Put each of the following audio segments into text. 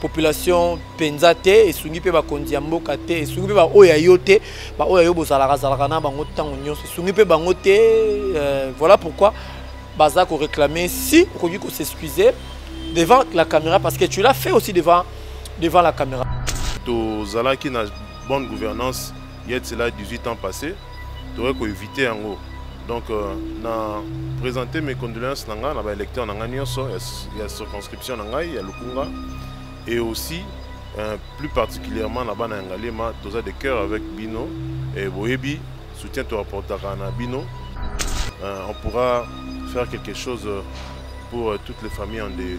population penza te esungi pe bakonzi ya mboka te esungi pe baoyo ya yo te baoyo ya yo bozalaka zalaka na bango ntango nyonso esungi pe bango te euh, voilà pourquoi baza ko réclamer si okoki ko s'excuser devant la caméra parce que tu l'as fait aussi devant devant la caméra tozalaki na bonne gouvernance Il y a cela 18 ans passé, toye ko éviter yango. Donc euh, na présenter mes condoléances nanga na ba électeurs nanga nyonso ya circonscription nanga ya Lukunga et aussi euh, plus particulièrement na bana Ngalema, toza de cœur avec Bino et Boyebi soutien to apportaka na Bino. Euh, on pourra faire quelque chose pour toutes les familles en deuil.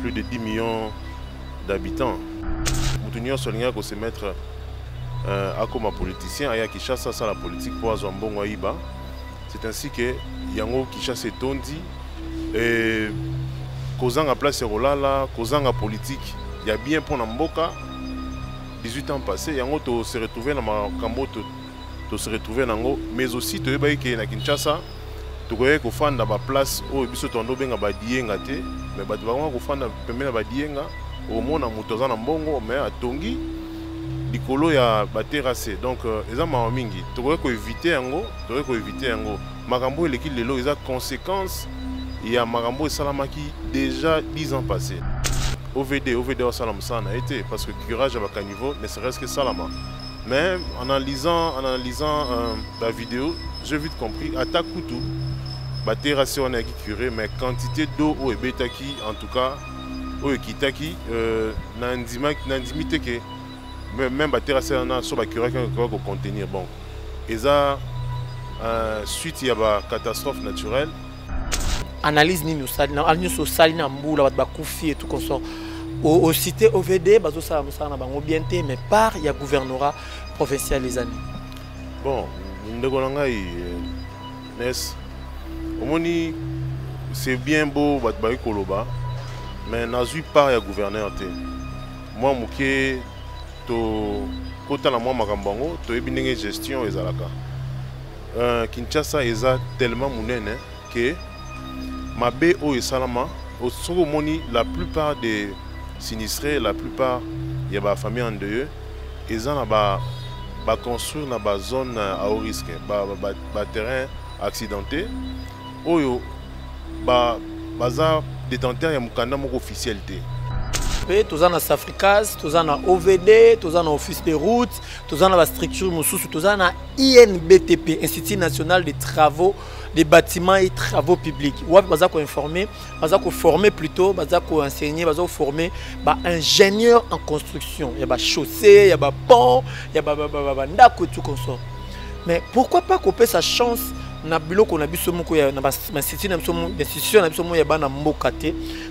plus de 10 millions d'habitants moto nyonso alingaki kose mettre euh, akoma politicien aya kinshasa asala politique mpo azwa mbongo ayiba c'est ainsi que yango kinshasa etondi e, kozanga place ya kolala kozanga politique ya bien mpo na mboka 18 ans passé yango tose retrouve na makambo to se retrouver nango mais aussi toyebaki ke na Kinshasa tokoyaki kofanda ba place oyo biso toando benga ba diyenga te mais bato bango kofanda pembeni ya ba diyenga omona moto aza na mbongo mais atongi likolo ya ba terrasse donc euh, eza mawa mingi tokoki koevite yango tokoki koevite yango makambo eleki lelo eza conséquence ya makambo esalamaki déjà 10 ans passé ovd ovd wasala mosala na ye te parce que curage ya bacaniveau ne serait ce que salama Mais en analysant, en analysant euh, la vidéo, j'ai vite compris, ata kutu, baterasi wana yaki curé, mais quantité d'eau oyo ebetaki, en tout cas, oyo ekitaki, euh, nandimi te ke même baterasi wana so bacuraki ekoka kocontenir. Bon, eza euh, suite ya bacatastrophe naturelle, analyse nini osali na nyonso osali na mbula bato bakufi etu consort osite ovd bazosala mosala na bango bien te mais part ya gouvernorat provincial ezali bon ndeko na ngai euh, nes omoni c'est bien beau bato bayi koloba mais nazwi part ya gouverneur te mwa moke tokota na mwa makambo yango toyebi ndenge gestion ezalaka Euh, Kinshasa eza tellement munene que mabe oyo esalama soki omoni la plupart des sinistrés la plupart ya ba famille en deuil eza na ba ba construire na ba zone à haut risque ba, ba, ba terrain accidenté oyo ba baza détenteur ya mukanda moko officiel te mpe toza na safricas toza na ovd toza na office de route toza na bastructure mosusu toza na inbtp institut national de travaux des bâtiments et travaux publics wapi baza koinforme baza koforme plutôt baza koenseigne baza koforme baingénieur en construction ya bachaussée ya bapont ya bandako etu consort mais pourquoi pas kopesa chance na biloko na biso moko na bainstitution na biso moko ya bana mboka te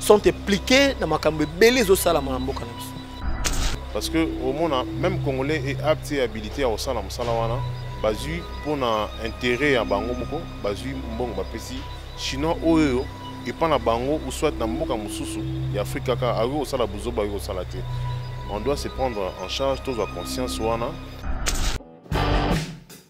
sont impliqués na makambo ebele ezosalama na mboka na biso parce que omona même congolais est apte et habilité ya kosala mosala wana bazwi mpo na intérêt ya bango moko bazwi mbongo bapesi chinois oyo epa na bango ou soit na mboka mosusu ya afrique kaka akoki kosala buzoba akoki kosala te on doit se prendre en charge tozwa conscience wana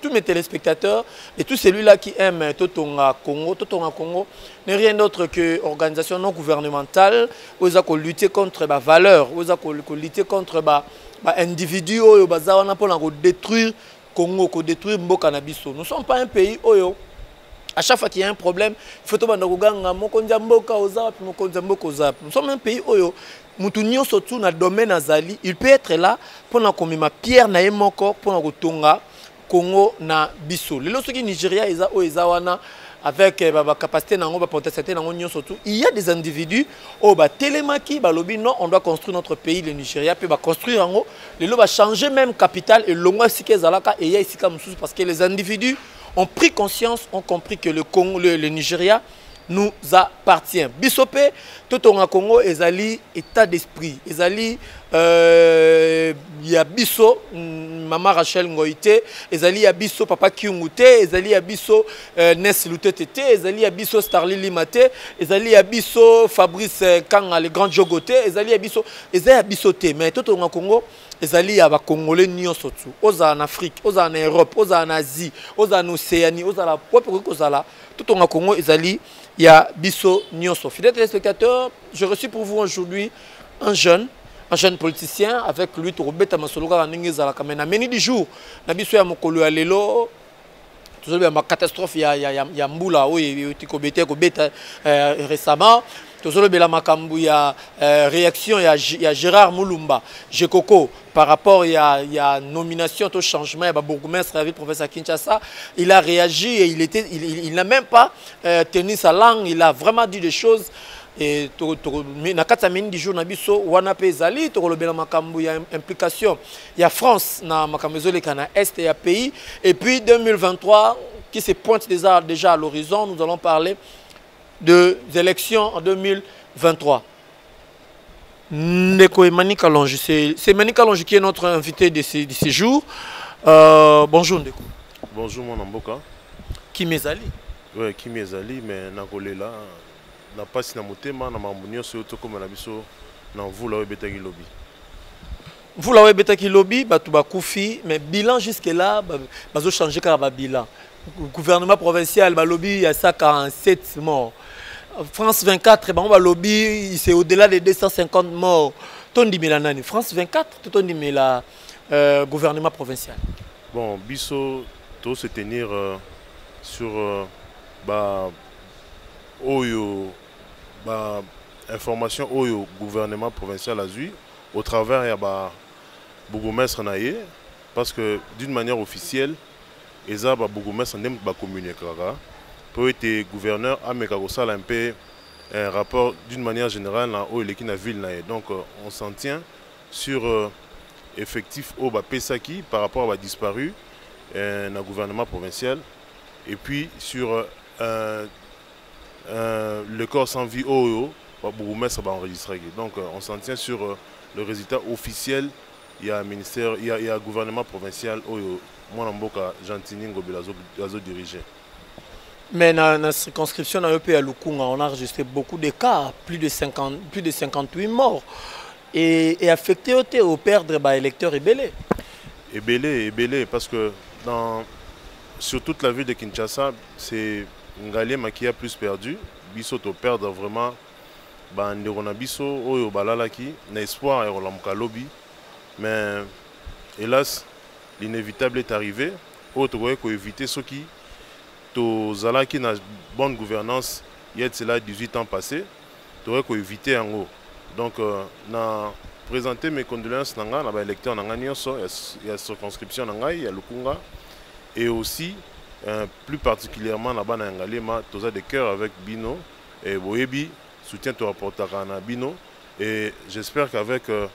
tous mes téléspectateurs et tout celui-là qui aime Totonga Congo, Totonga Congo n'est rien d'autre que organisation non gouvernementale où ils ont lutter contre la valeur, où ils ont lutter contre ba ba individus oyo baza wana pona ko détruire Congo, ko détruire mboka na biso. Nous sommes pas un pays oyo à chaque fois qu'il y a un problème, il faut tobanda koganga mokonzi mboka oza wapi mokonzi mboka oza. Nous sommes un pays oyo mutu nyoso tu na domaine azali il peut être là mpo na komema pierre na ye moko mpo na kotonga congo na biso lelo soki nigeria eza oyo eza wana avec euh, bacapacité na yango bapotentialité na yango nyonso tout il y a des individus oyo batelemaki balobi non on doit construire notre pays le nigeria mpe baconstruire yango lelo bachange même capital elongwa esika ezalaka eya esika mosusu parce que les individus ont pris conscience ont compris que le, Congo, le, le nigeria nous appartient biso mpe totonga congo ezali état d'esprit ezali euh, ya biso mm, mama rachel ngoi te ezali ya biso papa kiungu te ezali ya biso euh, nes lutete te ezali ya biso starli lima te ezali ya biso fabrice euh, kanga le grand jogo te ezali ya biso eza ya biso te mais totonga congo ezali ya bakongole nyonso tu ozala na afrique ozala na europe ozala na asie ozala na océanie ozala wapi okoki kozala Tout totonga congo ezali ya biso nyonso fidèle téléspectateur je reçu pour vous aujourd'hui un jeune un jeune politicien avec lui tokobeta masolo kaka ndenge ezalaka mai na meni du jour na biso ya mokolo ya lelo tozoloba ma catastrophe ya, ya, ya, ya mbula oyo euti kobeta ekobeta euh, récemment tozolobela makambo ya euh, réaction ya, ya gérard mulumba jekoko par rapport à la nomination au changement il y a bourgmestre avec professeur Kinshasa il a réagi et il était il, n'a même pas euh, tenu sa langue il a vraiment dit des choses et na kati ya mingi jour na biso wana mpe ezali tokolobela makambo ya implication ya france na makambo ezoleka na est ya pays et puis 2023 qui se pointe déjà, déjà à l'horizon nous allons parler des élections en 2023 Ndeko Emmanuel Kalonge, c'est Emmanuel Kalonge qui est notre invité de ce, de ce jour. Euh, bonjour Ndeko. Bonjour mon Amboka. Qui m'ezali Oui, qui m'ezali, mais nakolela na pasi na motema na makambo nyonso oyo tokoma na biso na mvula oyo ebetaki lobi. Mvula oyo ebetaki lobi bato bakufi mais bilan jusque là bazochange kaka babila gouvernement provincial balobi ya sa 47 mort france 24 bango balobi c'est au-delà de 250 mort tondimela nani france 24 to tondimela euh, gouvernement provincial bon biso to se tenir euh, sur euh, ba oyo ba information oyo gouvernement provincial azwi au travers ya ba bourgmestre na ye parce que d'une manière officielle eza ba bourgmestre nde moto bacommuniquaka mpo ete gouverneur ameka kosala mpe un rapport d'une manière générale na oyo eleki na ville na ye donc euh, on s'en tient sur euh, effectif oyo bapesaki par rapport à badisparu euh, na gouvernement provincial et puis sur euh, Euh, le corps sans vie oyo ba bourgmestre ba enregistraki donc euh, on s'en tient sur euh, le résultat officiel ya ministère ya, ya gouvernement provincial oyo mwana mboka gentini ngobela azodirige azo mais na, na circonscription na yo mpe ya lukunga on a enregistré beaucoup de cas plus de, 50, plus de 58 morts et, et affecté yo te operdre baélecteur ebele ebele ebele parce que dans, sur toute la ville de kinshasa c'est Ngalie Makia plus perdu biso to perdre vraiment ba ndeko na biso oyo balalaki na espoir ya kolamuka lobi mais hélas l'inévitable est arrivé oyo tokoki ko éviter soki tozalaki na bonne gouvernance il y a de cela 18 ans passé Tokoki ko eviter yango. Donc na presenter mes condoléances na nga na ba électeurs na nga nionso ya circonscription na ngai ya Lukunga et aussi euh, plus particulièrement na bana ya Ngaliema toza de cœur avec bino et boyebi soutien to apportaka na bino et j'espère qu'avec euh,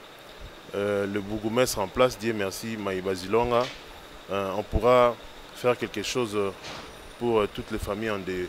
euh, le bourgmestre en place Dieu merci Maïba Zilonga euh, on pourra faire quelque chose pour euh, toutes les familles en deuil.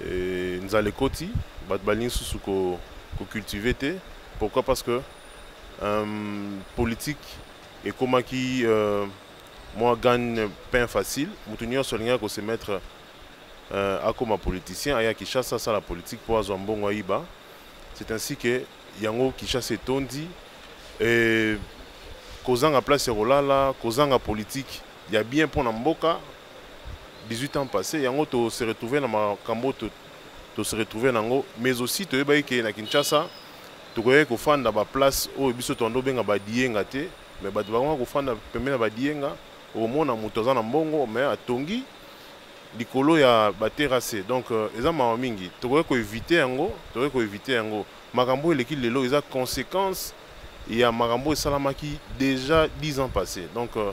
Et nzala ekoti, bato balingi susu ko, ko cultiver te. Pourquoi? Parce que euh, politique ekomaki euh, moi gagne pain facile. Moto nyonso alingaki ko se mettre euh, akoma politicien, aya Kinshasa asala politique mpo azwa mbongo ayiba. C'est ainsi que yango Kinshasa etondi et kozanga place ya kolala, kozanga politique ya bien mpo na mboka 18 ans passé yango to se retrouver na makambo to, to se retrouver nango mais aussi toyebaki ke na Kinshasa tokoyaki kofanda ba place oyo biso toando benga ba diyenga te mais bato bakonga kofanda pembeni ya ba diyenga omona moto aza na mbongo mais atongi likolo ya ba terrasse donc euh, eza mawa mingi tokoki koevite yango tokoki koevite yango makambo eleki lelo eza conséquence ya makambo esalamaki déjà 10 ans passé donc euh,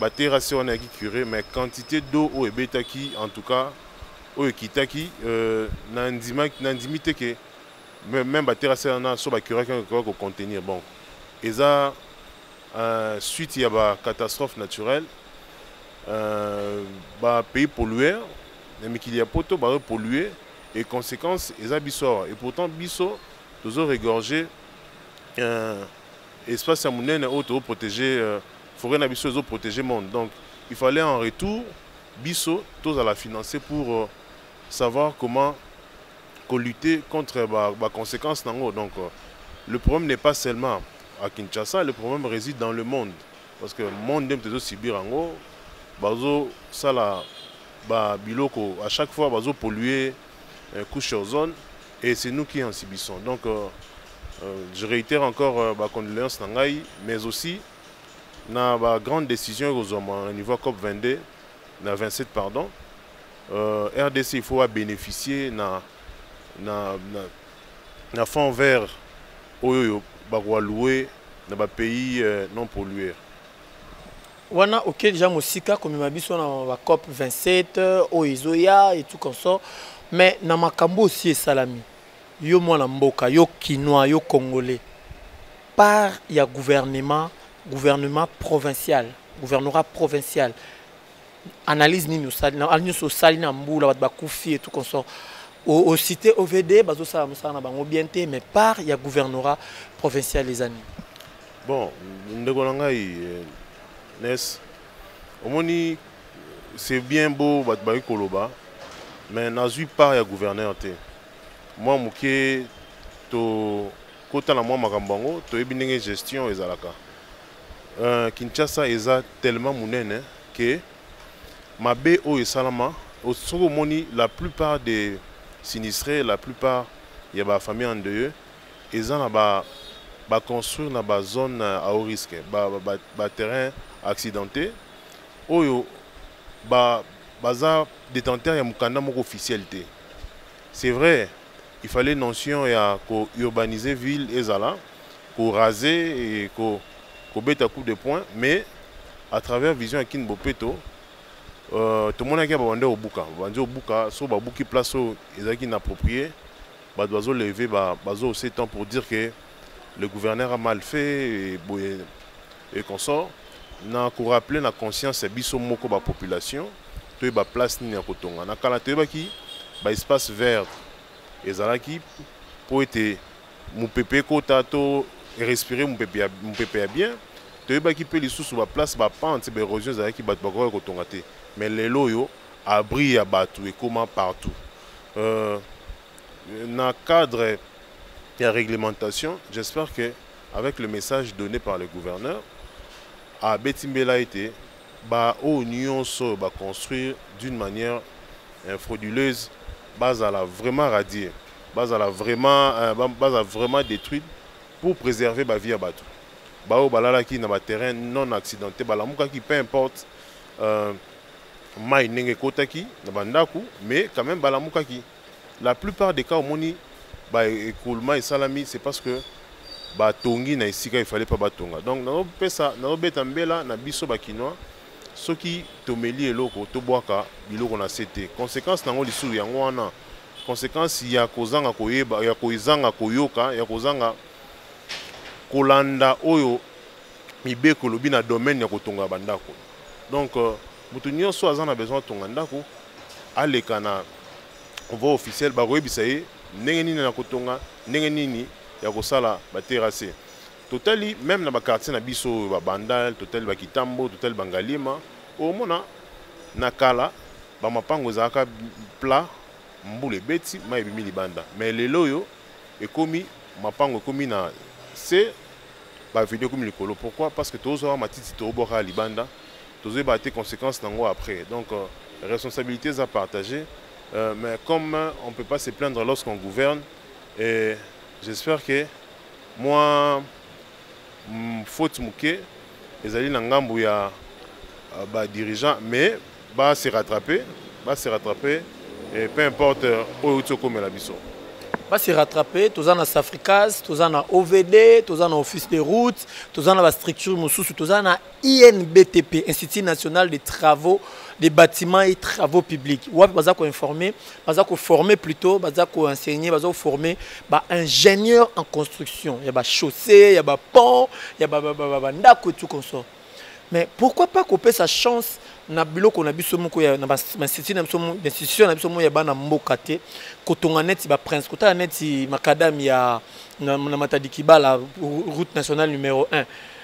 ba terrasse wana yaki cure mais quantité d'eau oyo ebetaki en tout cas oyo ekitaki euh, nandimi te ke même ba terrasse wana so bacuraki yango ekoki kocontenir bon eza euh, suite ya ba catastrophe naturelle euh, ba pays polluer na mikili ya poto bayo polluer et conséquence eza biso awa et pourtant biso tozo regorger euh, espace ya monene oyo tozo protéger euh, Foret na biso ezo proteger monde donc il fallait en retour biso tozala financer pour euh, savoir comment ko lutter contre ba, ba conséquences nango donc euh, le problème n'est pas seulement à Kinshasa le problème réside dans le monde parce que monde nde moto ezosibir yango bazosala babiloko à chaque fois bazopolluer euh, couche ozone et c'est nous qui en subissons donc euh, euh, je réitère encore euh, bacondoléance na ngai mais aussi na ba grande décision ekozwama na niveau ya cop 22 na 27 pardon euh, rdc il faut abénéficier na, na, na, na fond vert oyo oyo bakoaloue na bapays euh, non polluer wana oke deja mosika komema biso na bacop 27 oyo ezoya et tout consort mais na makambo osi esalami yo mwana mboka yo kinois yo congolais part ya gouvernement gouvernement provincial gouvernorat provincial analyse nini osali ah, nyonso osali na mbula bato bakufi etout consort ocité ovd bazosala mosala na bango bien te mais part ya gouvernorat provincial eza nini bon ndeko na ngai eh, nes omoni c'est bien beau bato bayi koloba mais nazwi part ya gouverneur te mwa moke to Kota na mwa makambo yango, toyebi ndenge gestion ezalaka. Euh, Kinshasa eza tellement munene que mabe oyo esalama soki omoni la plupart des sinistrés, la plupart ya ba famille endeuilleux eza na ba ba construire na ba zone euh, à haut risque, ba, ba, ba, ba terrain accidenté oyo ba baza détenteur ya mukanda moko officiel te. C'est vrai, il fallait notion ya ko urbaniser ville ezala, ko raser et ko kobeta coup de poing, mais à travers vision ya Kin Bopeto, euh, tomonaki ya babandi obuka, babandi obuka, so babuki place oyo ezalaki inapproprié, bato bazo lever, ba, bazo se temps pour dire que le gouverneur a mal fait boye et consort na rappeler na conscience ya biso moko ba population toyeba place nini ya kotonga na kala toyebaki ba espace vert ezalaki mpo ete mopepe ekota to respire mopepe ya bien toyebaki mpe lisusu baplace bapente baérosion ezalaki bato bakokaki kotonga te mais lelo oyo abri ya bato ekoma partout euh, Na cadre ya reglementation, j'espère que avec le message donne par le gouverneur, abeti mbela ete ba oyo nyonso oyo ba construire d'une manière euh, frauduleuse bazala vraiment radier, bazala vraiment, euh, ba- bazala vraiment détruite pour préserver ba vie ya bato. Baoyo balalaki na ba terrain non accidenté balamukaki peu importe euh, mai ndenge ekotaki na bandako mais quand même balamukaki La plupart des cas omoni ba écoulement esalami c'est parce que ba tongi na esika il fallait pas ba tonga. Donc na pesa na beta mbela na biso ba kinois soki tomeli eloko to bwaka biloko na sete. Conséquence nango lisu yango wana conséquence ya kozanga koyeba ya kozanga koyoka ya kozanga kolanda oyo mibeko lobi na domaine ya kotonga bandako. Donc euh, Mutu nionso aza na besoin atonga ndako aleka na voie officielle bakoyebisa ye ndenge nini na kotonga ndenge nini ya kosala ba terrasse totali meme na ba quartier na biso oyo babandal totali bakitambo totali bangaliema omona na kala bamapango ezalaka plat mbula ebeti mai ebimi libanda mais lelo oyo ekomi mapango ekomi na se baveni ekomi likolo pourquoi parce que tozwa matiti tobwaka libanda tozoyeba te conséquence nango après donc euh, responsabilité eza partager euh, mais comme on peut pas se plaindre lorsqu'on gouverne et j'espère que moi mm, faute moke ezali na ngambo ya euh, ba dirigeant mais ba se rattraper ba se rattraper et peu importe euh, oyo outi okomela biso ba se rattraper toza na safricas toza na ovd toza na office de route toza na bastructure mosusu toza na INBTP, Institut National des Travaux des bâtiments et travaux publics wapi baza koinforme baza koforme plutôt baza koenseigne baza koforme baingénieur en construction ya bachaussée ya bapont ya bandako etu consort mais pourquoi pas kopesa chance na biloko na biso moko ya na bainstitut na biso institution na biso moko ya bana mboka te kotonga neti baprince kotala neti macadame ya na, na matadi kibala route nationale numero 1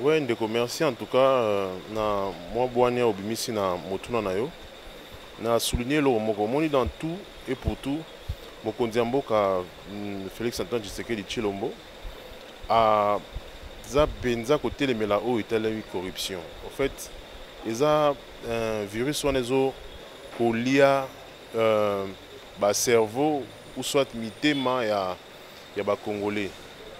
Oui ndeko merci en tout cas euh, na mwa bwania obimisi na motuna na yo na souligner eloko moko omoni dans tout et pour tout mokonzi ya mboka mm, Félix Antoine Tshisekedi Tshilombo aza mpenza kotelemela oyo etalemi corruption en fait eza euh, virus wana ezo kolia euh, bacerveau ou soit mitema ya euh, ya ba congolais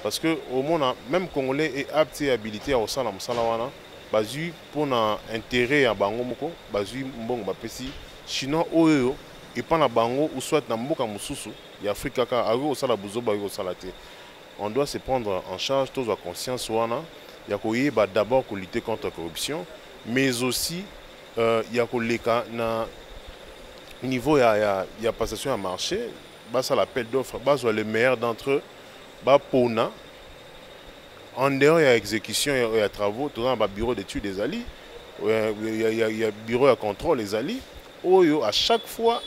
parce que omona même congolais est apte et habilité ya kosala mosala wana bazwi mpo na intérêt ya bango moko bazwi mbongo bapesi chinois oyo epa na bango ou soit na mboka mosusu ya afrique kaka akoki kosala buzoba akoki kosala te on doit se prendre en charge tozwa conscience wana ya koyeba d'abord kolutte contre corruption mais aussi euh, ya koleka na niveau ya, ya, ya passation ya marché basala appel d'offre bazwa le meilleur d'entre eux bapona en dehors ya exécution ya travaux toza na babureau d'étude ezali ya bureau ya contrôle ezali oyo à chaque fois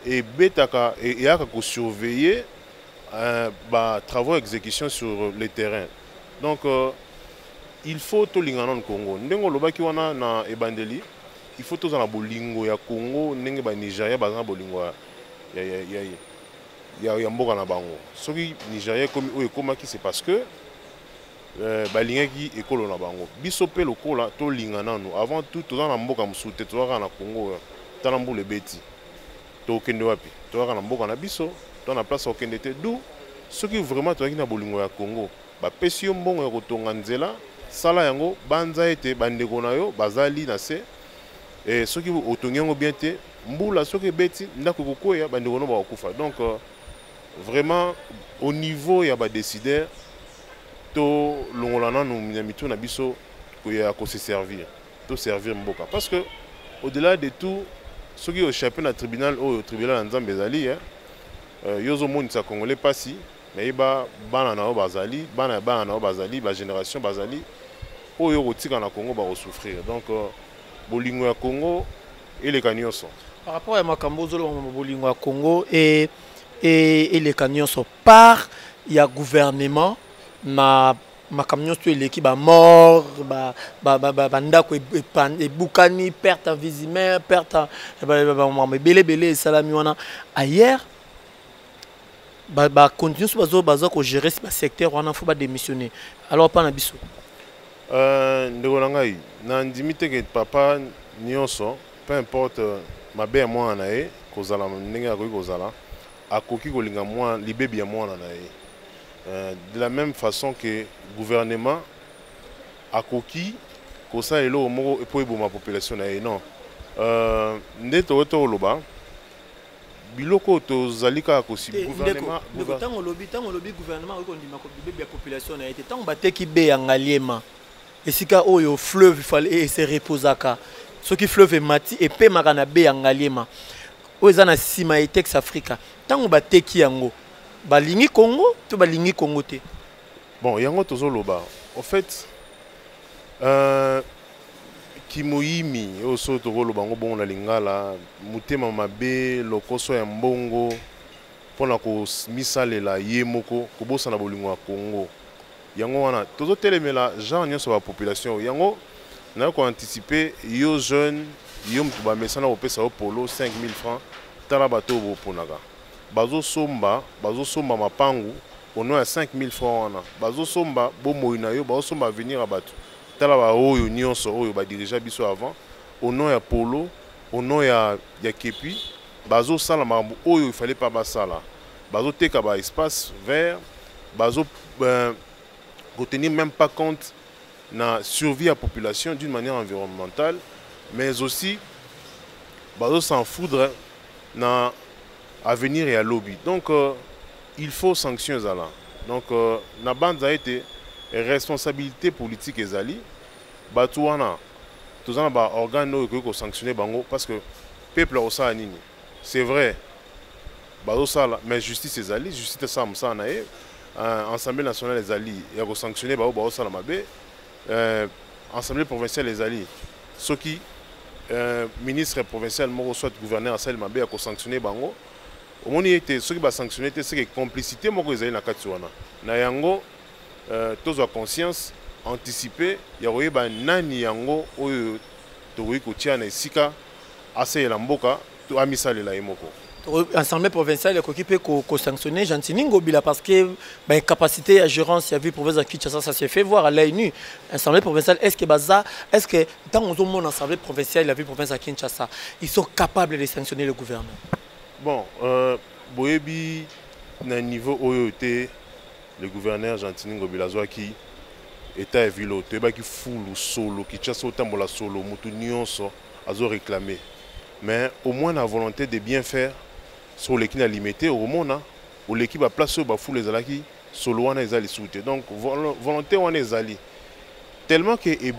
ebetaka e, eyaka kosurveiller euh, batravaux exécution sur le terrain donc euh, il faut tolingana nanu congo ndenge olobaki wana na ebandeli il faut tozala na bolingo ya congo ndenge banigeria baza na bolingo ya ya, ya, ya, ya, ya mboka na bango soki nigeria ekomi oyo ekomaki c'est parce que euh, balingaki ekolo na bango biso mpe lokola tolinga nanu avant tout toza na mboka mosusu te toza kaka na congo oyo tala mbula ebeti tokende wapi toza kaka na mboka na biso to na place okende te du soki vraiment tozalaki na bolingo ya congo bapesi yo mbongo ya kotonga nzela sala yango banza ete bandeko na yo bazali na se e, soki otongi yango bien te Mbula soki ebeti ndako ekokweya bandeko no bakokufa donc euh, vraiment au niveau ya badécideur tolongola nanu na mitu na biso koya kose servir to servir mboka parce que au delà de tout soki ochape na tribunal oyo tribunal ya nzambe ezali eh, euh, yo ozomonisa congolais mpasi nayeba bana na yo bazali bana ya bana na yo bazali bagénération bazali oyo okotika na congo bakosouffrir donc euh, bolingo ya congo eleka nyonso par rapport ya makambo ozoloba ma bolingo ya congo e, e, eleka nyonso part ya gouvernement na makambo nyonso to eleki bamort bandako ebukani perte invisimaire perte makambo ebele ebele esalami wana ailleurs ba ba continue so bazo bazo ko gérer ba secteur wana faut ba démissionner alors pas na biso euh ndeko na ngai na ndimi te que papa nyonso peu importe euh, mabe ya mwana na ye kozala ndenge akoki kozala akoki kolinga mwana libebi ya mwana na ye euh, de la même façon que gouvernement akoki kosala eloko moko mpo eboma population na ye non euh, nde tokoki tokoloba biloko oyo tozali kaka kositango olobi ntango olobi gouvernement oyo kondima bibebi ya population na ye te ntango bateki be ya ngaliema esika oyo fleuve fale e se reposaka soki fleuve emati epemaka na be ya ngaliema oyo eza na nsima ya etex africa ntango bateki yango balingi congo to balingi congo te bon yango tozoloba au fait euh, Kimoyimi oyo soki tokoloba yango bongo na lingala, motema mabe, lokoso ya mbongo mpo na komisalela ye moko, kobosana bolingo ya Congo. Yango wana tozotelemela genre nyonso ba population oyo. Yango nayo ko anticiper yo jeune, yo moto bamesana kopesa yo polo 5000 francs, tala bato oyo boponaka. Bazosomba, bazosomba mapangu au nom ya 5000 francs wana, bazosomba bomoi na yo, bazosomba avenir ya bato. Tala ba oyo nionso oyo ba dirigea biso avant au nom ya polo au nom ya ya kepi bazo sala makambo oyo il fallait pas basala bazo teka ba espace vert bazo euh, ko tenir même pas compte na survie ya population d'une manière environnementale mais aussi bazo s'en foudre na avenir ya lobi donc euh, Il faut sanction ezala. Donc euh, na banza ete responsabilité politique ezali batu wana toza na ba organes oyo ekoki ko sanctionner bango parce que peuple akosala nini? C'est vrai bazosala mais justice ezali justice esala mosala na ye euh, assemblée nationale ezali ya kosanctionne baoyo baosala mabe euh, assemblée provinciale ezali soki euh, ministre provincial moko soit gouverneur asali mabe ya kosanctionne bango omoni ete soki basanctionne te seke complicité moko ezali na kati wana na yango euh, tozwa conscience anticipe ya koyeba nani yango oyo tokoki kotia na esika asalela mboka to amisalela ye moko assemblée provinciale ekoki mpe kosanctionne gentini ngobila parce que baincapacité ya gérance ya ville province ya kinshasa ça se fait voir à l'œil nu assemblée provinciale est ce que baza est ce que ntango ozomona assemblée provinciale ya ville province ya kinshasa ils sont capables de sanctionner le gouvernement Bon, euh, boyebi na niveau oyo te le gouverneur Gentini Ngobila azwaki etat ya ville oyo toyebaki fulu solo Kinshasa otambola solo motu nyonso azo réclamer mais au moins na volonté de bien faire so oleki na limete okomona oleki baplace oyo bafulu ezalaki solo wana eza lisusu te donc volonté wana ezali tellement ke e,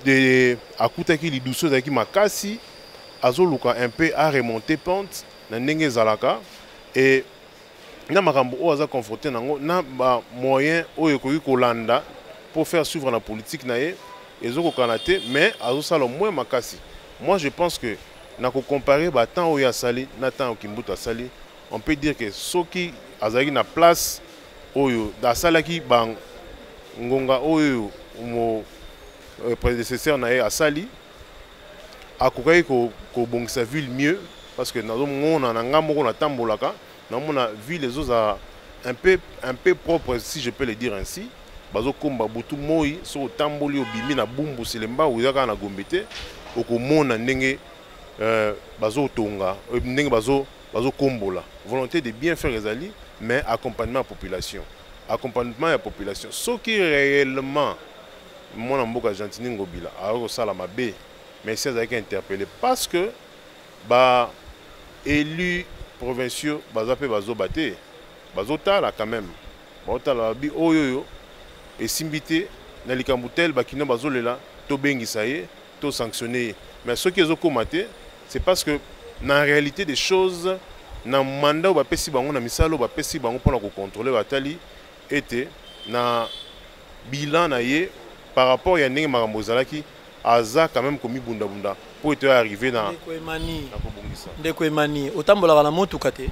de akutaki lidusu ezalaki makasi azoluka un peu a remonter pente na ndenge ezalaka et na makambo oyo aza confronté nango na ba moyen oyo ekoki kolanda pour faire suivre la politique na ye ezokokana te mais azosala moins makasi moi je pense que na kocompare batemp oyo asali na ntango kimbuta asali on peut dire que soki azalaki na place oyo asalaki ba ngonga oyo mo euh, prédécesseur na ye asali akokaki kobongisa ko ville mieux parce que nazomona na ngai moko natambolaka namona ville ezozala un peu, un peu propre si je peux le dire ainsi bazokomba butu moi soki otamboli obimi na bumbu selemba oza kaka na gombe te okomona ndenge euh, bazotonga euh, ndenge bazo bazo kombola volonté de bien faire ezali mais accompagnement ya population accompagnement ya population soki réellement mwana mboka gentini ngobila akoki kosala mabe mais si azalaki interpellé parce que ba élus provinciaux baza mpe bazoba te bazotala quand même baotala babi oyo oyo esimbi te na likambo tel bakino bazolela tobengisa ye To sanctionner ye. Mais soki ezo koma te, c'est parce que na réalité des choses na mandat oyo bapesi bango na misala oyo bapesi bango mpona kocontrole batali ete na bilan na ye par rapport ya ndenge makambo ezalaki aza quand même komibundabunda mpo ete arrive na kobongisa ndeko emani otambolaka na motuka te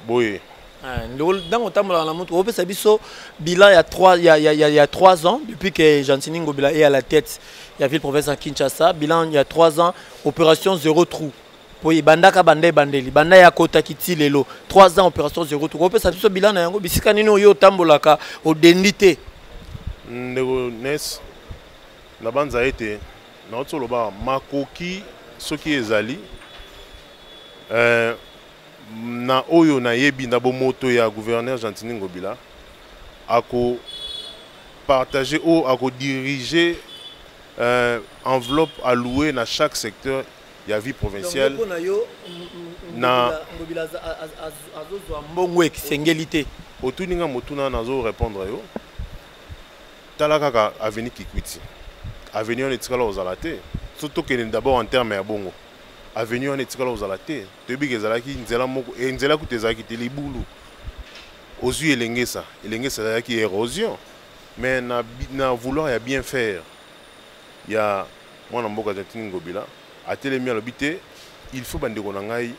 boye Eh, ndeko ntango otambolaka na motuka opesa biso bilan ya 3 ya, ya, ya, ya 3 ans depuis que gentini ngobila est à la tête ya ville province ya kinshasa bilan ya 3 ans opération zéro trou mpo ebandaka banda ebandeli banda ya akotaki ti lelo 3 ans opération zéro trou opesa biso bilan na yango bisika nini oyo otambolaka odendi te ndeko nes nabanza ete nauti oloba makoki soki ezali eh, Na oyo nayebi na bomoto ya gouverneur Gentiny Ngobila, ako partager ou ako diriger euh, enveloppe allouée na chaque secteur ya vie provinciale. Donc, na yo, na Ngobila azozwa mbongo ekisengeli te. Otuni nga motuna nazo répondre yo. Tala kaka avenue Kikwiti. Avenue wana etikala ozala te. Soki tokende d'abord en terme ya bongo. Avenue wana etikala ozala te. toyebi ke ezalaki nzela moko e nzela kutu ezalaki te libulu ozwi elengesa elengesa ezalaki érosion mais na, na vouloir ya bien faire ya mwana mboka gentini ngobila atelemi alobi te il faut bandeko na ngai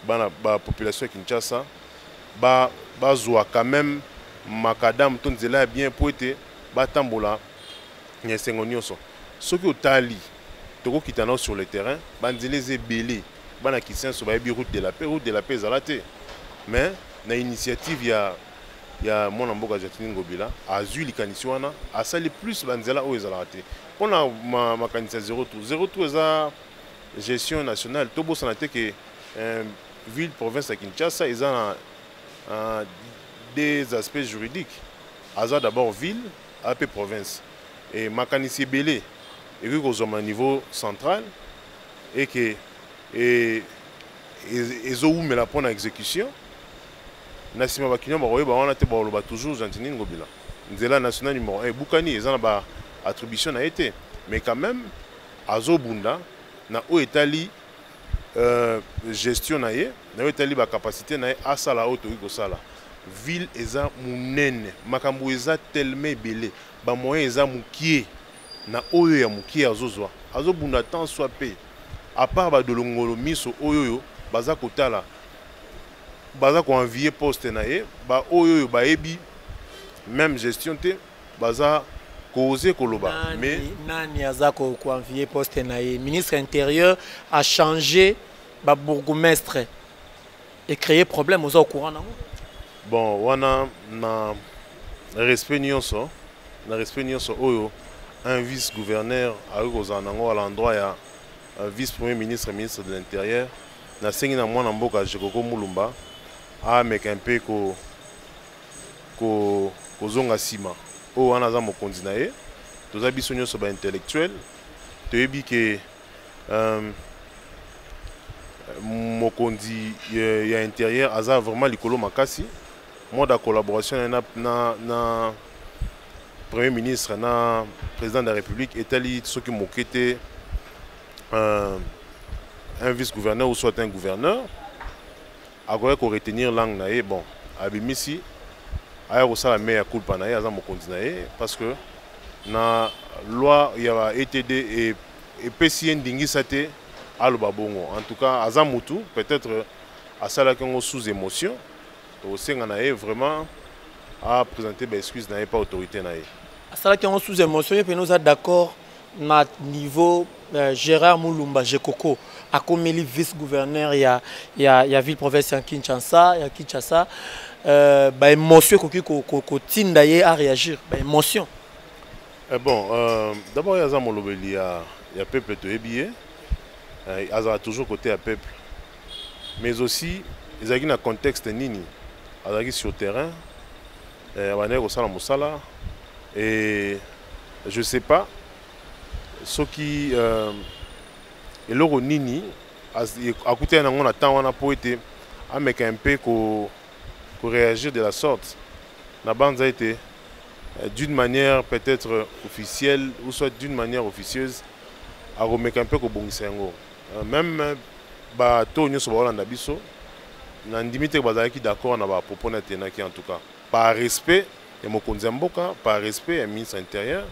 bana bapopulation ya kinshasa bazwa ba quand même makadamu to nzela ya bien mpo ete batambola na esengo nyonso soki otali Toko kita nao sur le terrain, ba nzela eza ebele. Bana Kisenso bayebi route de la paix, route de la paix ezala te. Mais na initiative ya ya mwana mboka Jacqueline Ngobila azui likanisi wana, asali plus ba nzela oyo ezalaka te. Pona makanisi ya zero tour, zero tour eza gestion nationale. Tobosana te que euh, ville province ya Kinshasa eza na euh, des aspects juridiques. Aza d'abord ville ape province e makanisi ebele ekoki kozwama niveau central eke e, e, ezowumela mpo na exécution na nsima bakino bakoyeba wana te bakoloba toujours gentini ngobila nzela national numero 1 ebukani eza na ba attribution na ye te mais quand même azobunda na oyo etali Euh, gestion na ye na yo etali bacapacité na ye asala oyo tokoki kosala ville eza monene makambo eza telema ebele bamoyen eza mokie na oyo ya mokie azozwa azobunda temps soi mpe apart badolongolo miso oyo oyo baza kotala baza koenvie poste na ye baoyo oyo bayebi même gestion te baza koze koloba nani, mais nani aza ko envier poste na ye ministre intérieur a changer ba bourgmestre et créer problème aux au courant nango bon wana na respect nyonso na respect nyonso oyo un vice gouverneur akoki kozala nango à l'endroit ya euh, vice premier ministre ministre de l'intérieur nasengi na mwana mboka jekoko mulumba ameka mpe ko kozonga nsima oyo wana aza mokonzi na ye toza biso nyonso baintellectuel toyebi ke um, mokonzi euh, ya intérieur aza vraiment likolo makasi mode ya collaboration na, na, na premier ministre na président de la république etali soki moke te un, un vice gouverneur ou soit un gouverneur Akoya ko retenir langue na ye bon abimisi aya kosala mea culpa na ye aza mokonzi na ye parce que na loi ya ba ETD e, epesi ye ndingisa te aloba bongo en tout cas aza mutu peut-être asalaki yango sous émotion tokosenga na ye vraiment a présenter ba excuse na ye pa autorité na ye asalaki yango sous émotion ye mpena oza d'accord na niveau euh, Gérard Mulumba Jekoko akomeli vice gouverneur ya, ya, ya ville province ya Kinshasa ya Kinshasa euh, ba émotion ekoki kotinda ko, ko ye a réagir ba émotion eh bon euh, d'abord yaza molobeli ya, ya peuple toyebi ye eh, azala toujours côté ya peuple mais aussi ezalaki na contexte nini azalaki sur terrain Eh, abandaki kosala mosala et je sais pas soki euh, eloko nini akutaki nango na temps wana mpo ete ameka mpe ko, ko réagir de la sorte nabanza ete euh, d'une manière peut-être officielle ou soit d'une manière officieuse akomeka mpe kobongisa yango euh, même bato nyonso bakolanda biso Na ndimi te que bazalaki d'accord na ba propos naye tenaki en tout cas par respect ya mokonzi ya mboka par respect ya ministre ya interieur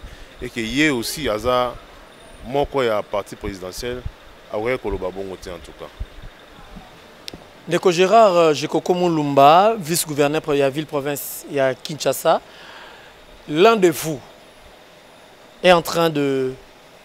et que ye aussi aza moko ya parti presidentiel akokaki koloba bongo te en tout cas. Ndeko Gérard euh, Jekoko Mulumba, vice-gouverneur ya ville province ya Kinshasa, l'un de vous est en train de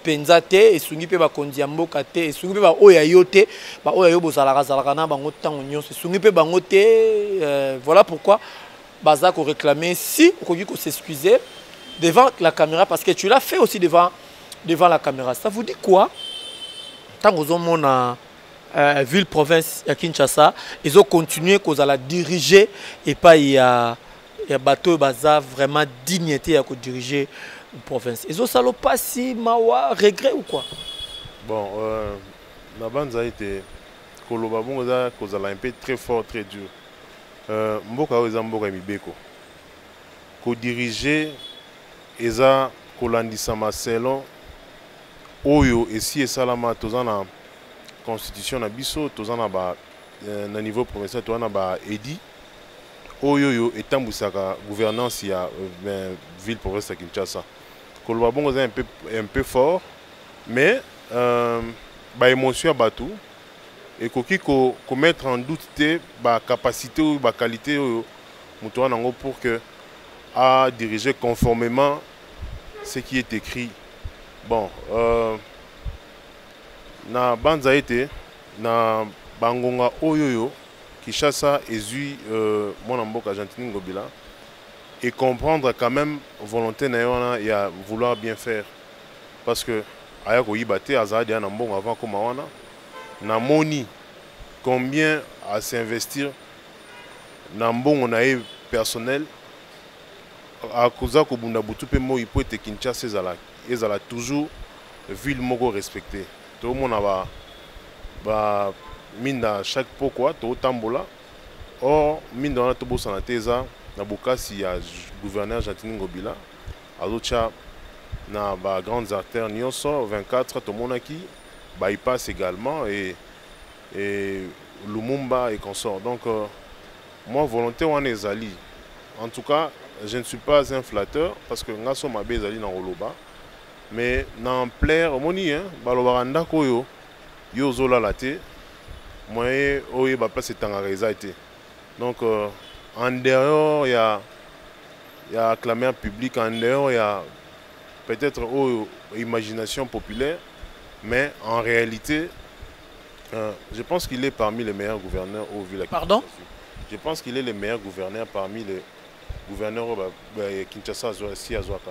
mpenza te esungi mpe bakonzi ya mboka te esungi mpe baoyo ya yo te baoyo ya yo bozalaka zalaka na bango ntango nyonso esungi mpe bango te euh, voilà pourquoi baza koréclame si okoki kosexcuse devant la caméra parce que tu l'as fait aussi devant, devant la caméra ça vous dit quoi ntango ozomona euh, ville province ya kinshasa ezocontinue kozala dirige epai ya ya bato oyo baza vraiment digne te ya kodirige province ezosala mpasi mawa regret ou quoi bon euh, nabanza ete koloba bongo eza kozala mpe très fort très dur euh, mboka oyo eza mboka ya mibeko kodirige eza kolandisama selon oyo esi esalama toza na constitution na biso toza na ba euh, na niveau provincial toza na ba edi oyoyo etambwisaka gouvernance ya euh, ville province ya kinshasa koloba bongo eza un peu fort mais euh, baémotion ya bato ekoki komettre en doute te bacapacité oyo baqualité oyo moto wana yango pour que a dirige conformément ce qui est écrit bon euh, na banza ete na bangonga oyoyo Kinshasa ezui euh, mwana mboka Gentini Ngobila et comprendre quand même volonté na wana ya vouloir bien faire parce que aya koyiba te azala deya na mbongo avant akoma wana na moni combien à s'investir na mbongo na ye personnel akoza kobunda butu mpe moi mpo ete kinshasa ezala, ezala toujours ville moko respectée Tomona ba ba minda chaque pokwa totambola or minda wana tobosana te eza na bokasi ya gouverneur Gentiny Ngobila azotya na ba grandes artères nyonso 24 tomonaki bypass également et, et Lumumba et consort donc euh, moi volonté wana ezali en tout cas je ne suis pas un flatteur parce que ngaso mabe ezali na koloba Mais na ampleur omoni hein balobaka ndako oyo yo ozolala te moyen oyeba place etangaka eza te donc euh, en dehors ya ya acclamer public en dehors ya peut-être oyo imagination populaire mais en réalité euh, je pense qu'il est parmi les meilleurs gouverneurs au ville Pardon Je pense qu'il est le meilleur gouverneur parmi les gouverneurs au Kinshasa, si Azuaka.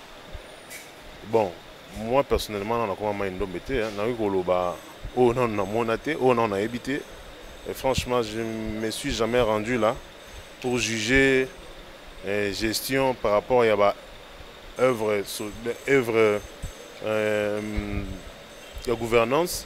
bon moi personnellement nano nakoma mai ndombe te nakoki koloba oyo oh, nano namona te oyo oh, nano nayebi te et franchement je me suis jamais rendu là pour juger eh, gestion par rapport ya ba œuvre œuvre euh, ya gouvernance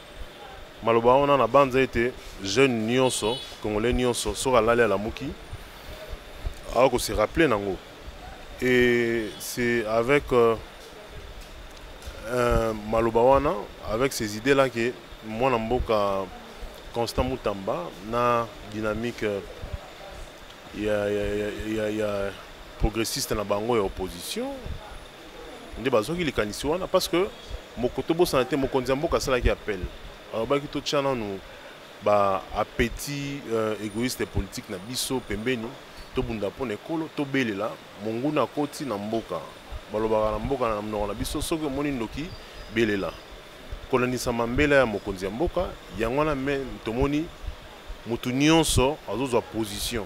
Maloba wana na banza ete jeune nionso congolais nionso soki alali alamuki awa ko se rappeler nango et c'est avec euh, euh, maloba wana avec ces idées là que mwana mboka Constant Mutamba na dynamique euh, ya, ya, ya, ya, ya progressiste na bango ya opposition nde bazwaki likanisi wana parce que moko tobosana te mokonzi ya mboka asalaki appel alobaki totya nanu ba appétit euh, égoïste politique na biso pembeni tobunda mpo na ekolo tobelela monguna akoti na mboka balobaka na mboka na monoko na biso soki omoni ndoki belela kolandisama mbela ya mokonzi ya mboka yango wana me tomoni moto nyonso azozwa position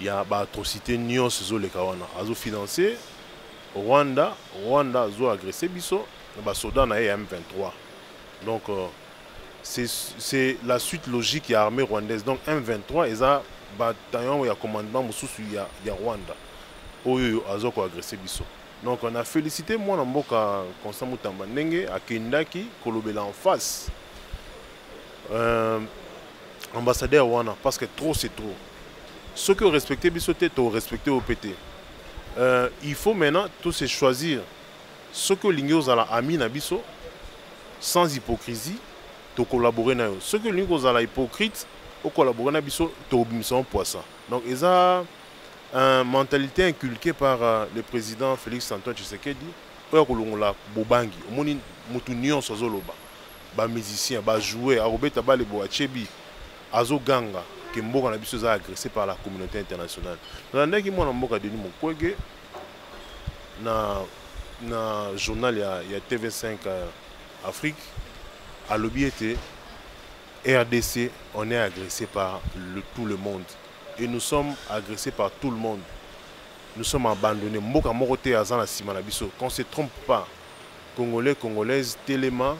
ya ba atrocité nyonso ezoleka wana azo financer Rwanda Rwanda azo agresser biso na ba soda na ye ya M23 donc euh, c'est la suite logique ya armée rwandaise donc M23 eza bataillon ya commandement mosusu ya, ya Rwanda oyo azo ko agresser biso donc on a félicité mwana mboka Constant Mutamba ndenge akendaki kolobela en face euh, ambassadeur wana parce que trop c'est trop soki orespecte biso te torespecte yo mpe te euh, il faut maintenant tose choisir soki olingi ozala ami na biso sans hypocrisie tocollabore na yo soki olingi kozala hypocrite ocollabore na biso tobimisa mpoisa donc eza un mentalité inculquée par euh, le président félix antoine tshisekedi oyo akolongola bobangi omoni motu nyonso azoloba ba musiciens ba joueurs akobeta bale bo achebi azoganga ke mboka na biso eza agressé par la communauté internationale nalandaki mwana mboka denis mukwege na, na journal ya, ya tv5 euh, afrique alobi ete rdc on est agressé par le, tout le monde et nous sommes agressés par tout le monde nous sommes abandonnés mboka moko te aza na nsima na biso qu'on se trompe pas Congolais congolaise telema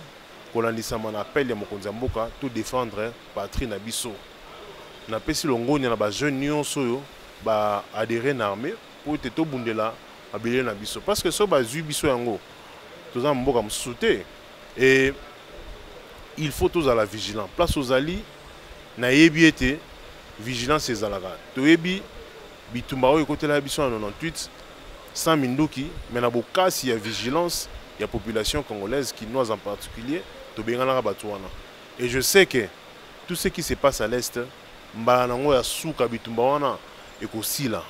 kolandisama na appel ya mokonzi ya mboka to defendre patrie na biso. Na pesi longonya na ba jeunes nionso oyo ba adherer na armee po ete tobundela mabele na biso parce que soki bazui biso yango toza na mboka mosusu te et il faut tozala vigilant place ozali nayebi ete vigilance ezalaka toyebi Bitumba oyo ekotela biso na 98 sans minduki mais na bokasi ya vigilance ya population congolaise kinoise en particulier tobenganaka bato wana et je sais que tout ce qui se passe à l'est mbala nango ya suka bitumba wana ekosila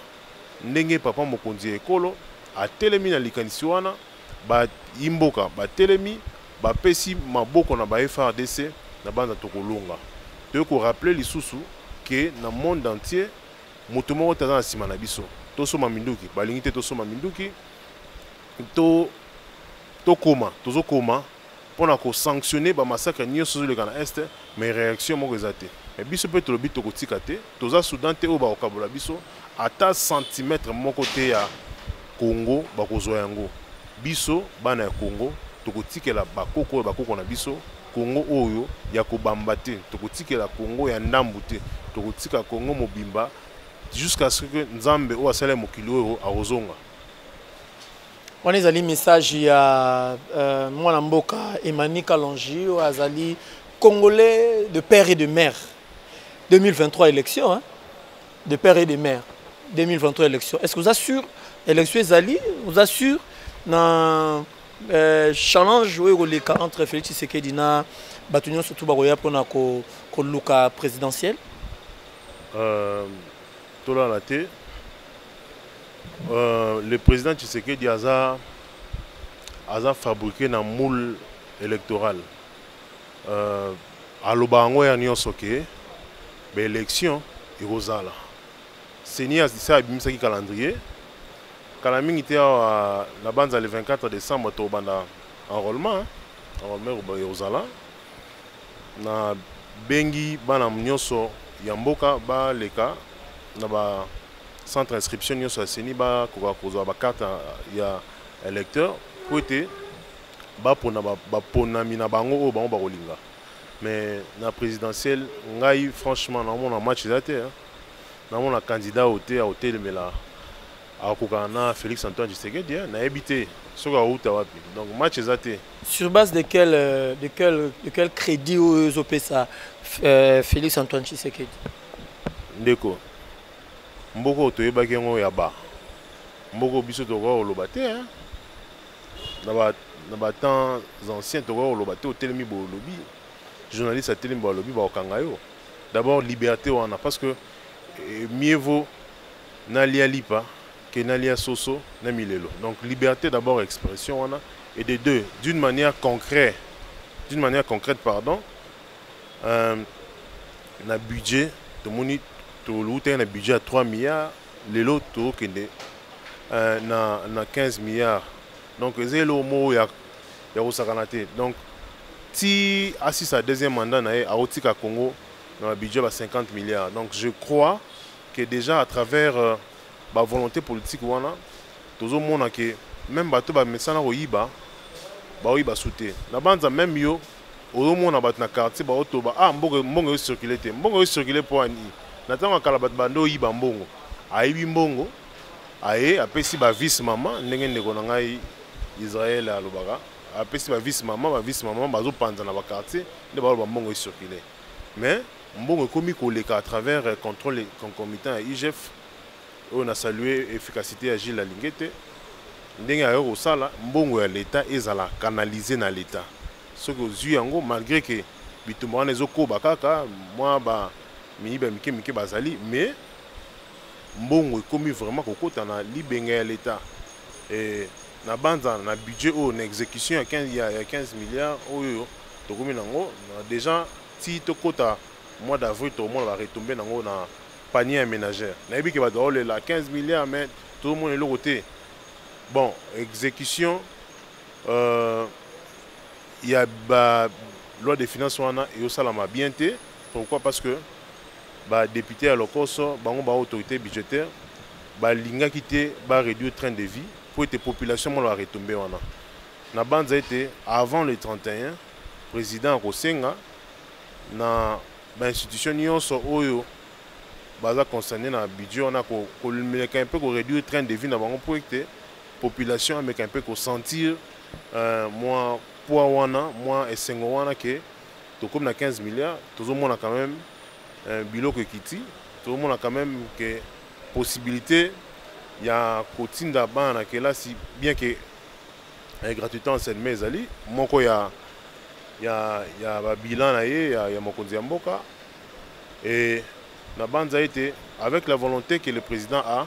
ndenge papa mokonzi ya ekolo atelemi na likanisi wana bayimboka batelemi bapesi maboko na ba FRDC na banza tokolonga toyei korapele lisusu ke na monde entier moto moko te aza na nsima na biso tosomba minduki balingi te tosomba minduki to tokoma tozokoma mpo na kosanctionne bamasakre nyonso ezoleka na este mais réaction moko eza te mais biso mpe tolobi tokotika te toza soudan te oyo bakokabola biso ata centimètre moko te ya congo bakozwa yango biso bana ya congo tokotikela bakoko oyo bakoko na biso Congo oyo ya kobamba te, tokotikela Congo ya ndambu te, tokotika Congo mobimba jusqu'à ce que Nzambe oyo asala mokili oyo akozonga. wana ezali message ya euh, mwana mboka Emmanuel Kalonji oyo azali congolais de père et de mère 2023 élection hein? de père et de mère 2023 élection est-ce que vous assure élection ezali vous assure na Euh, challenge oyo ekoleka entre félix tshisekedi na bato nyonso tu bakoya mpona koluka ko présidentielle euh, tolala te euh, le président tshisekedi aza aza fabriqué na moule électoral euh, aloba yango ya nyonso ke baélection ekozala CENI asi abimisaki calendrier kala mingi te awa na banza le 24 décembre tobanda enrôlement enrôlement ekozala na bengi bana nyonso ya mboka baleka na ba centre inscription nyonso ya CENI bakoka kozwa bakarte ya électeur mpo ete bapona baponami na bango oyo bango bakolinga mais na présidentielle ngai franchement naomona match eza te Namona candidat oyo te akotelemela akokana na Felix Antoine Tshisekedi hein? nayebi te soki awuta wapi donc match eza te sur base de quel, euh, de quel, de quel crédit oyo ezopesa euh, Felix Antoine Tshisekedi ndeko mboka oyo toyebaki yango ya ba mboka biso tokoka koloba te hein? na ba na ba temps anciens tokoka koloba te otelemi bolobi journaliste atelemi balobi bakokanga yo D'abord liberte wana parce que eh, mieux vaut nalia lipa que nalia soso na milelo. Donc liberté d'abord expression wana et de deux d'une manière concrète d'une manière concrète pardon euh, na budget tomoni tolutaki na budget ya 3 milliards lelo tokende euh, na, na 15 milliards donc eza eloko moko ya ya kosakana te donc ti asisa deuxième mandat na ye akotika congo na babudget ba 50 milliards donc je crois que déjà à travers euh, bavolonté politique wana tozomona ke meme bato bamesana koyiba baoyiba su te nabanza meme yo ozomona bato na quartier baotoba ah mbongo mbongo eyo circule te mbongo eyo circule mpo ani na ntango ya kala bato bande oyiba mbongo ayibi mbongo aye apesi ba vice mama ndenge ndeko na ngai Israël alobaka apesi ba vice mama ba vice mama bazopanza na ba quartier nde baloba mbongo ecircule mais mbongo ekomi koleka à travers euh, contrôle concomitant ya IGF oyo na salue efficacité ya Gilles Alingete ndenge ayo kosala mbongo ya leta ezala canalise na leta soki ozwi yango malgré que bitumba wana ezokoba kaka mwa ba miyibi ya mike mike bazali mais Mbongo ekomi vraiment kokota na libenga ya l'Etat. Et na banza na budget oyo na execution ya 15 ya 15 milliards oyo tokomi nango dejà ti tokota mois d'avril tokomona ba retomber nango na panier ya menagère. Nayebi ke bato baolela 15 milliards mais tozomona eloko te. Bon execution euh, ya ba loi de finance wana eosalama bien te pourquoi parce que ba depute ya lokoso bango ba autorite budgetaire balingaki te ba réduire train de vie mpo ete population mona ba retombe wana nabanza ete avant le 31 président akosenga na bainstitution nyonso oyo baza concerne na budget wana koleka mpe koréduire train de vie na bango mpo ete population ameka mpe kosentir euh, mwa poids wana mwa esengo wana ke tokomi na 15 milliards tozomona quand même euh, biloko ekiti tozomona quand même ke possibilité ya kotinda bana na kelasi bien ke eh, gratuité enseignement ezali moko ya, ya, ya babilan na ye ya, ya mokonzi ya mboka e nabanza ete avec la volonté que le président a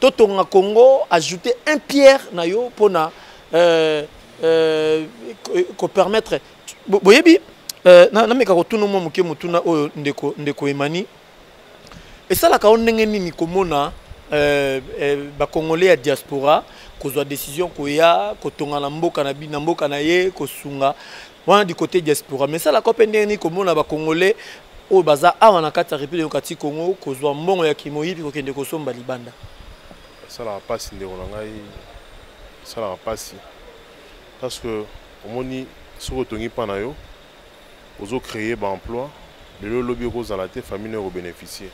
Totonga Congo ajouter un pierre na yo pona euh, euh, ko permettre boyebi euh, na, na meka kotuna mwa moke motuna oyo ndeko ndeko Emani esalaka yo ndenge nini komona euh, euh, bakongole ya diaspora kozwa décision koya kotonga na mboka na, na mboka na ye kosunga wana du côté diaspora mais ça la cope ndenge ni komona ba congolais oyo baza awa na kati ya république démocratie congo kozwa mbongo ya kimoyibi kokende kosomba libanda esalaka mpasi ndeko na ngai esalaka mpasi parce que omoni soki otongi mpa na yo ozo créer ba emploi lelo lobi okozala te famille nayo ekobénéficie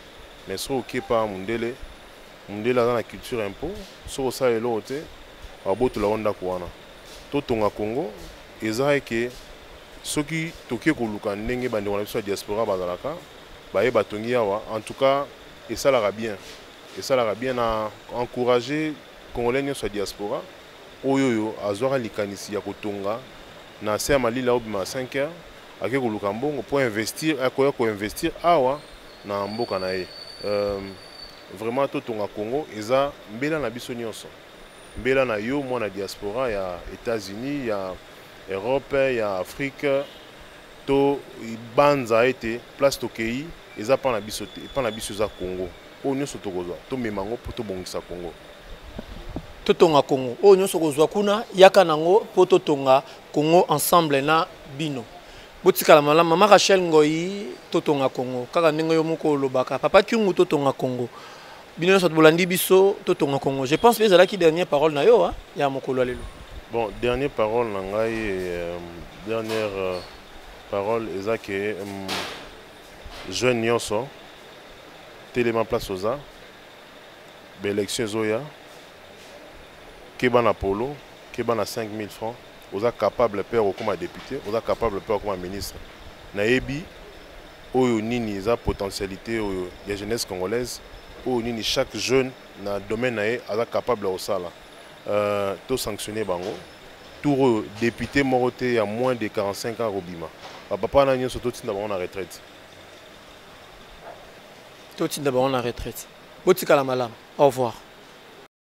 mais soki okepa mundele mundele aza na culture impôt soki osala eloko te babotola yo ndako wana Totonga Congo eza eke soki toke koluka ndenge bandeko na biso ya diaspora bazalaka baye batongi yawa en tout cas esalaka bien esalaka bien na encourager congolais nyonso ya diaspora oyo oyo azwaka likanisi ya kotonga na se ya malili aobima 5 heures ake koluka mbongo mpo investir akoya koinvestir awa na mboka na ye euh, vraiment totonga congo eza mbela na biso nyonso Mbela na yo mwana diaspora ya Etats Unis, ya Europe, ya Afrique to banza ete place tokei eza pa na biso te, epa na biso eza Congo. Oyo nyonso tokozwa tomema yango mpo tobongisa Congo. Totonga Congo. Oyo nyonso kozwa kuna yaka nango mpo totonga Congo ensemble na bino. Botikala malamu mama Rachel Ngoyi, totonga Congo kaka ndenge yo moko olobaka papa Kyungu totonga Congo. bino nyonso bolandi biso totonga congo je pense mpe ezalaki dernière parole na yo ya mokolo ya lelo bon dernière parole na ngai euh, dernière euh, parole eza ke um, jeune nyonso telema place oza baélection ezoya keba na polo keba na 5000 francs oza capable mpe okokoma député oza capable mpe okokoma ministre nayebi Oyo nini eza potentialite oyo ya jeunesse congolaise oyo nini chaque jeune na domaine na ye aza capable ya kosala euh, to sanctionner bango tour oyo député moko te ya moins de 45 ans akobima bapapa na nyonso totinda bango na retraite totinda bango na retraite botikala malamu au revoir